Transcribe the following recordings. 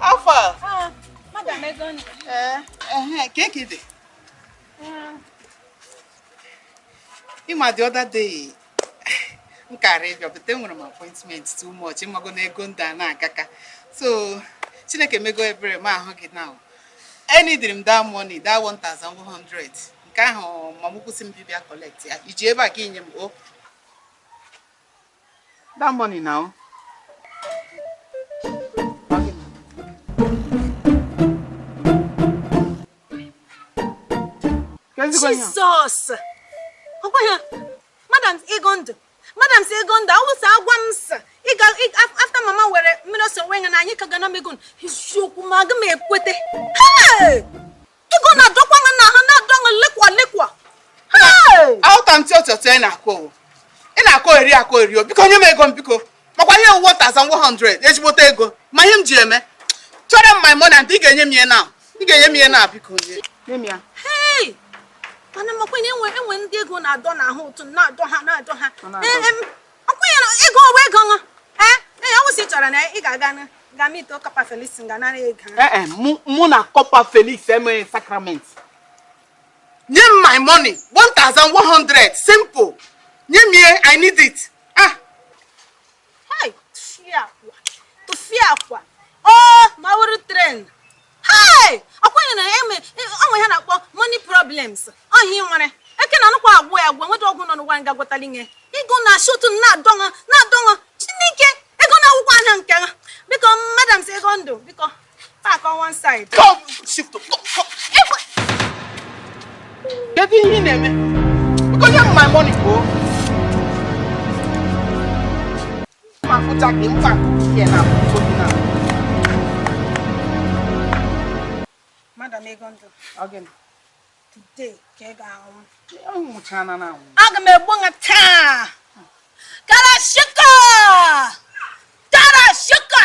how far ah, eh, eh, eh, ka eke dị ị ma the other day m kara ịbịa but enwere m appointment too much ị mago na ego ndị a na-agaka so chineke mego ebere m ahụ gị now nyedịrị m that money that 1100 nke ahụ mama ukwu sị m bịbịa collect ya i ji ebe a ka i nye m o oh. That money now. Jesus! Ọkwa ya, madam Egondụ, madam si Egondụ, ọ wụ sị a gwa m sị, after mama were mmiri ose wụọ ya n'anya ị ka ga-ana m ego, eziokwu ma aga m ekwete. Hey! Ego na-adọkwa ha na ha na-adọ ha lekwa lekwa. Aghọta m tịọtịọ tịọ ị na-akọ o. Ị na-akọgheri akọgheri o biko nye m ego m biko. Makwa ihe ọ wụ 1100 ezigbote ego ma ihe m ji eme. Achọrọ m my money and ị ga-enye m ya now ị ga-enye m ya now biko nye. Nye m ya. Hey! Mana makwa na e nwe e nwe ndị ego na-adọ n'ahụ otu na-adọ ha na-adọ ha. Ọ na-adọ. Ee, em, ọkwụnyere ego ọwa ego nwa ee ee ọ wụ sị ị chọrọ na ị ga-aga na ga meet corper Felix ga nara ego ahụ. ee e, mụ- mụ na corper Felix emeghị sacrament nye m my money 1100 simple nye m ya i need it ah Hai, tụfịakwa tụfịakwa ọ ma wụrụ trend Hey! Ekwenye na o nwe ihe a na-akpọ money problems. Ọ ihe ị nwere. Eke na anụkwa agwụ ya agwụ enweta ọgwụ nọ n'ụwa ga-agwọtali ya. Ego na shotu na-adọṅụ na-adọṅụ Chineke ego na-awụkwa anya nke ha. Biko madam si Egondụ biko park on one side. Come, shift, come, come. Kedu ihe ị na-eme? Biko nye m my money, bro. Madam Egondo, again. Today, aga m egbu nwa taa. Gara shuka! Gara shuka!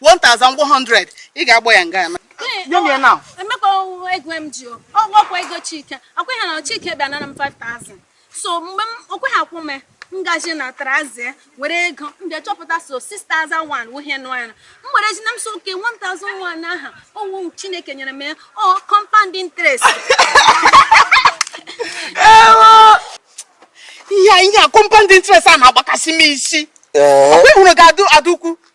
1100 ị ga-agbọ ya nga Nye m ya now. Emee ka ọ wụ ego m ji o. Ọ wụkwa ego Chike. Ọkwa ha na Chike bịa nara m 5000. So mgbe m okwe ha kwụ m ngaji na trouser were ego m bịa chọpụta sị ọ 6001 wụ ihe nọ ya. M were ji na m sị okay 1001 ahụ ọ wụ Chineke nyere m ya. Ọ compound interest. Ihe a ihe a compound interest a na-agbakasị m isi. Ọ bụ ịhụrụ ga-adụ adụ ukwu.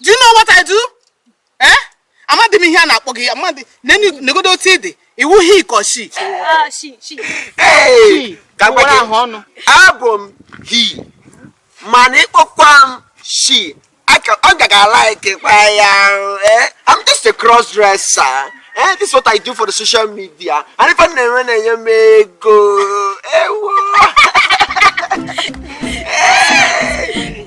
do you know what I do eh amadị m ihe a na-akpọ gị amadị negodo otu ị dị ị wụ he ka she ah, abụ m he mana ị kpọkwa m she ọ gaga like kwa ya eh? I'm just a cross dresser eh, this is what I do for the social media and ife na-enwe na-enye m ego ewo eh,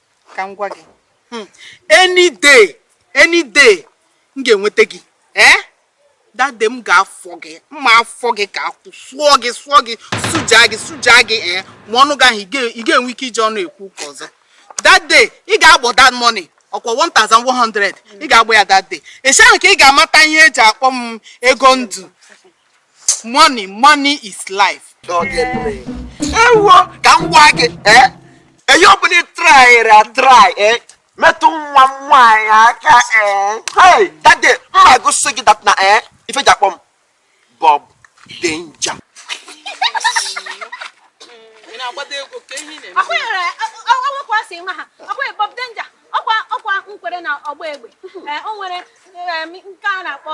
ka m gwa gị hmm, any day any day m ga-enweta gị ee eh? that day m ga-afọ gị m ma-afọ gị ka akwụ sụọ gị sụọ gị sụja gị sụja gị ee eh? ma ọnụ gị ahụ ị ga-enwe ike iji ọnụ ekwu ụka ọzọ that day ị ga-agbọ that money ọkwa 1100 ị ga-agbọ ya that day esi ahụ ka ị ga-amata ihe eji akpọ m ego ndụ money money is life ewo ka m gwa gị eh? eyi ọbụla ị traịrị atraị eh? metụ nwa m nwaanyị aka eh? that day m ma-egosi gị that na ife e ji akpọ m Bob Danger Bob Danger ọkwa nkwere na ọgba egbe o nwere nke a na-akpọ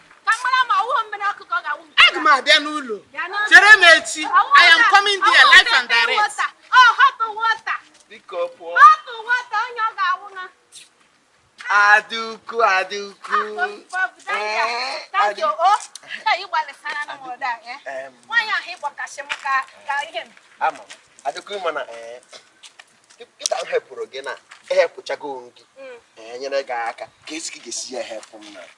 aga m abịa n'ụlọ chere m echi i am coming there live and direct Adaukwu Adaukwu Adaukwu mana ịta hepụrụ gị na ehepụchago gị enyere gị aka ka esi gị ga-esi ya ehepụ m na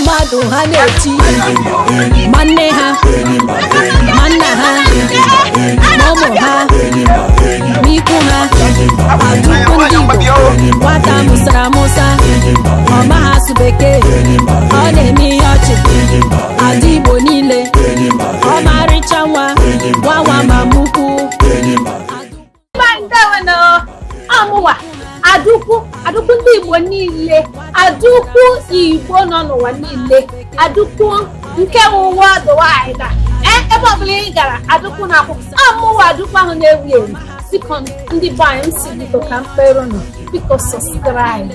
mmadụ ha na-eti ma nne ha ma nna ha ma ụmụ ha ma ikwu ha Adaukwu ndị Igbo nwata mụsara amụsa ọ maghị asụ bekee ọ na-eme ihe ọchị ada Igbo niile ọmarịcha nwa nwa nwa mama ukwu amụwa Adaukwu Adaukwu ndị igbo niile Adaukwu igbo nọ n'ụwa niile Adaukwu nke worldwide eh, ebe ọbụla ị gara Adaukwu na-akwụ amụwa Adaukwu ahụ na-ewu ewu biko ndị be anyị si biko ka m kpeere unu biko subscribe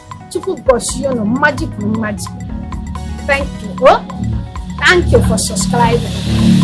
Chukwu gọzie unu mmaji kwuru mmaji. Thank you. Oh, thank you for subscribing.